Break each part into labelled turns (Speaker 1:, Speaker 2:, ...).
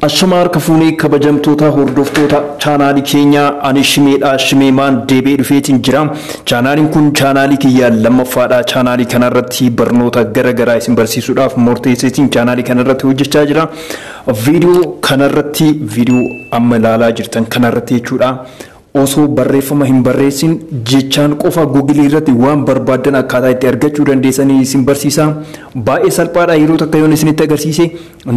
Speaker 1: Ashamaa harka fuunee kabajamtoota hordoftoota chaanaalii keenyaa ani shimeedha shimeemaan deebi'ee dhufeetiin jira chaanaaliin kun chaanaalii kiyya lammaffaadha chaanaalii kanarratti barnoota gara garaa isin barsiisuudhaaf murteesseetiin chaanaalii kanarratti hojjechaa jira viidiyoo kanarratti viidiyoo amma ilaalaa jirtan kanarratti jechuudha Osoo barreeffama hin barreessin jechaan qofa Google irratti waan barbaaddan akkaataa itti argachuu dandeessan isin barsiisa. Baay'ee salphaadha yeroo takka yoon isinitti agarsiise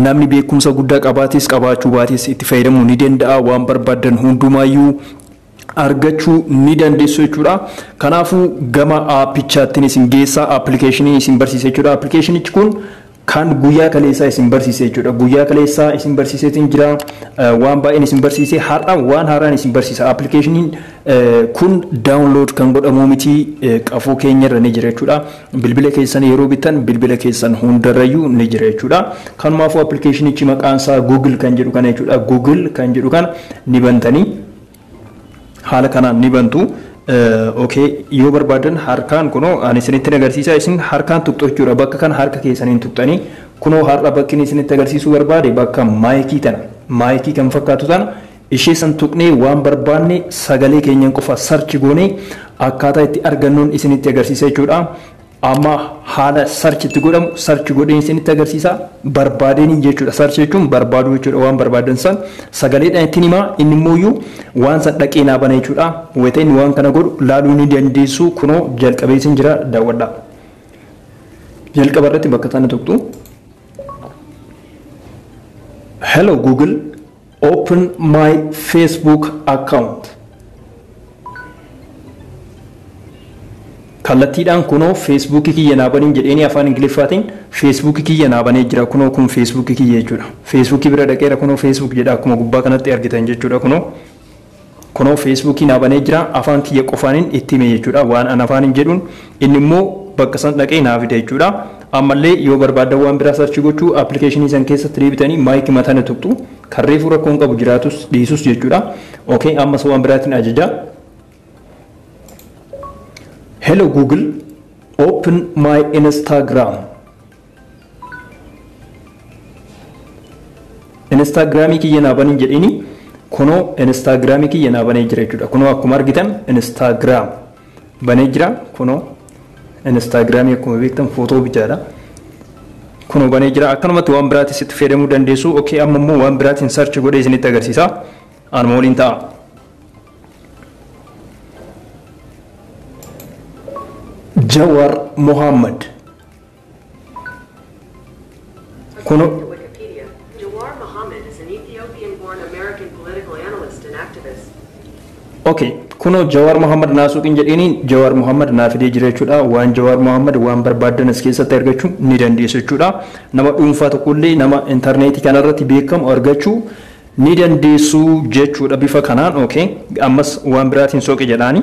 Speaker 1: namni beekumsa guddaa qabaates qabaachuu baates itti fayyadamuu ni danda'a waan barbaaddan hundumaayyuu argachuu ni dandeessu jechuudha. Kanaafuu gama aappichaattiin isin geessa appilikeeshinii isin barsiisa jechuudha. Appilikeeshinichi kun Kan guyyaa kaleessaa isin barsiise jechuudha. Guyyaa kaleessaa isin barsiiseetiin jira. Waan baay'een isin barsiise. Har'a waan haaraan isin barsiisa. Appilikeeshiniin kun daawunlood kan godhamuu miti qafoo keenyarra ni jira jechuudha. Bilbila keessan yeroo bittan bilbila keessan hundarrayyuu ni jira jechuudha. Kanumaafuu appilikeeshinichi maqaan isaa Google kan jedhu kana jechuudha. Google kan jedhu kana ni bantanii. haala kanaan ni bantu. ok yoo barbaadan harkaan kunoo ani isinittin agarsiisaa isin harkaan tuqxu jechuudha bakka kana harka keessaniin tuqxanii kunoo har'a bakki inni isinitti agarsiisuu barbaade bakka maayikii tana maayikii kan fakkaatu tana ishee san tuqnee waan barbaanne sagalee keenyan qofa sarchi goonee akkaataa itti argannuun isinitti agarsiisa jechuudha. Amma haala search itti godhamu search godheen isinitti agarsiisa. Barbaadeen jechuudha. Search jechuun barbaaduu jechuudha. Waan barbaadan san sagaleedhaan ittiin himaa. Inni immoo iyyuu waan san dhaqee naa bana jechuudha. Wayita inni waan kana godhu laaluu ni dandeessu. Kunoo jalqabee isin jira daawwadhaa. Jalqaba irratti bakka tana tuqxu. Hello Google. Open my Facebook account. Kallattiidhaan kunoo Facebook kiyya naa baniin jedheenii afaan Ingiliffaatiin Facebook kiyya naa banee jira kunoo kun Facebook kiyya jechuudha. Facebook bira dhaqeera kunoo Facebook jedha akkuma gubbaa kanatti argitan jechuudha kunoo. Kunoo feesbuukii naa banee jira afaan kiyya qofaanin itti hime jechuudha waan an afaanin jedhuun inni immoo bakka san dhaqee naa fida jechuudha ammallee yoo barbaaddan waan biraa search gochuu application san keessatti deebitanii my kima tana tuqxu kan reefuu rakkoo hin qabu jiraatus dhiisus jechuudha ok ammas waan biraatiin ajaja hello google open my instagram Instaagiraamii kiyya naa banii jedhiini kunoo Instaagiraamii kiyya naa banee jira jechuudha. Kunoo akkuma argitan Instaagiraam banee jira kunoo Instaagiraamii akkuma beektan footoo bichaadha. Kunoo banee jira akkanumatti waan biraatis itti fayyadamuu dandeessu. Okee amma immoo waan biraatiin sarchi godhee isinitti agarsiisa. Anuma waliin ta'a. Jawar Mohammed
Speaker 2: Kuno. According to Wikipedia, Jawar Mohammed is an Ethiopian-born American political
Speaker 1: analyst and activist. Okay, kuno Jawar Mohammed naasuuqin jedhiini Jawar Mohammed naa fidee jira jechuudha. Waan Jawar Mohammed waan barbaaddan as keessatti argachuu ni dandeessu jechuudha. Nama dhuunfaa tokkollee nama intarneetii kanarratti beekamu argachuu ni dandeessu jechuudha bifa kanaan. Okay, ammas waan biraatiin sooqe jedhaani.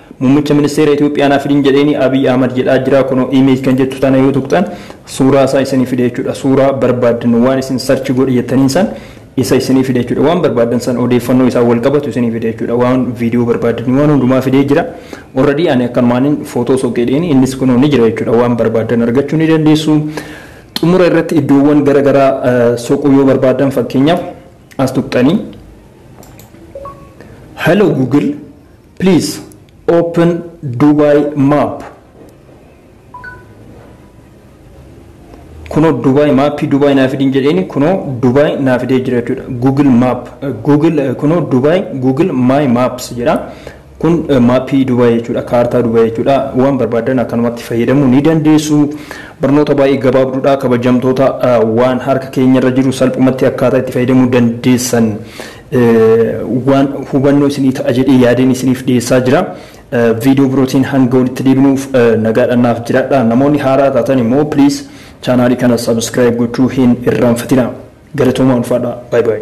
Speaker 1: Muummicha ministeera Itoophiyaa naa fidin jedheeni Abiy Ahmad jedhaa jiraa kunoo image kan jettu tana yoo tuqxan suuraa isaa isinii fida jechuudha suuraa barbaaddan waan isin search godhi jettaniin san isa isinii fida jechuudha waan barbaaddan san odeeffannoo isaan wal qabatu isinii fida jechuudha waan video barbaaddanii waan hundumaa fidee jira already ani akkanumaanin photo soqeedheeni innis kunoo ni jira jechuudha waan barbaaddan argachuu ni dandeessu xumura irratti iddoowwan gara garaa soquu yoo barbaaddan fakkeenyaaf as tuqxanii hello google Please open Dubai map. Kunoo Dubai maappii Dubai naa fidin jedheeni kunoo Dubai naa fidee jira jechuudha. Google map Google kunoo Dubai Google my maps jedha. Kun maappii Dubai jechuudha kaartaa Dubai jechuudha. Waan barbaadan akkanumatti fayyadamuu ni dandeessu. Barnoota baay'ee gabaabduudha kabajamtoota waan harka keenyarra jiru salphumatti akkaataa itti fayyadamuu dandeessan waan hubannoo isinii ta'a jedhee yaadeen isiniif dhiyeessaa jira. Viidiyoo birootiin hanga walitti deebinuuf nagaadhaan naaf jiraadhaa. Namoonni haaraa taatan immoo please chaanaalii kana subscribe gochuu hin irraanfatinaa. Galatoomaa ulfaadhaa. Bye bye.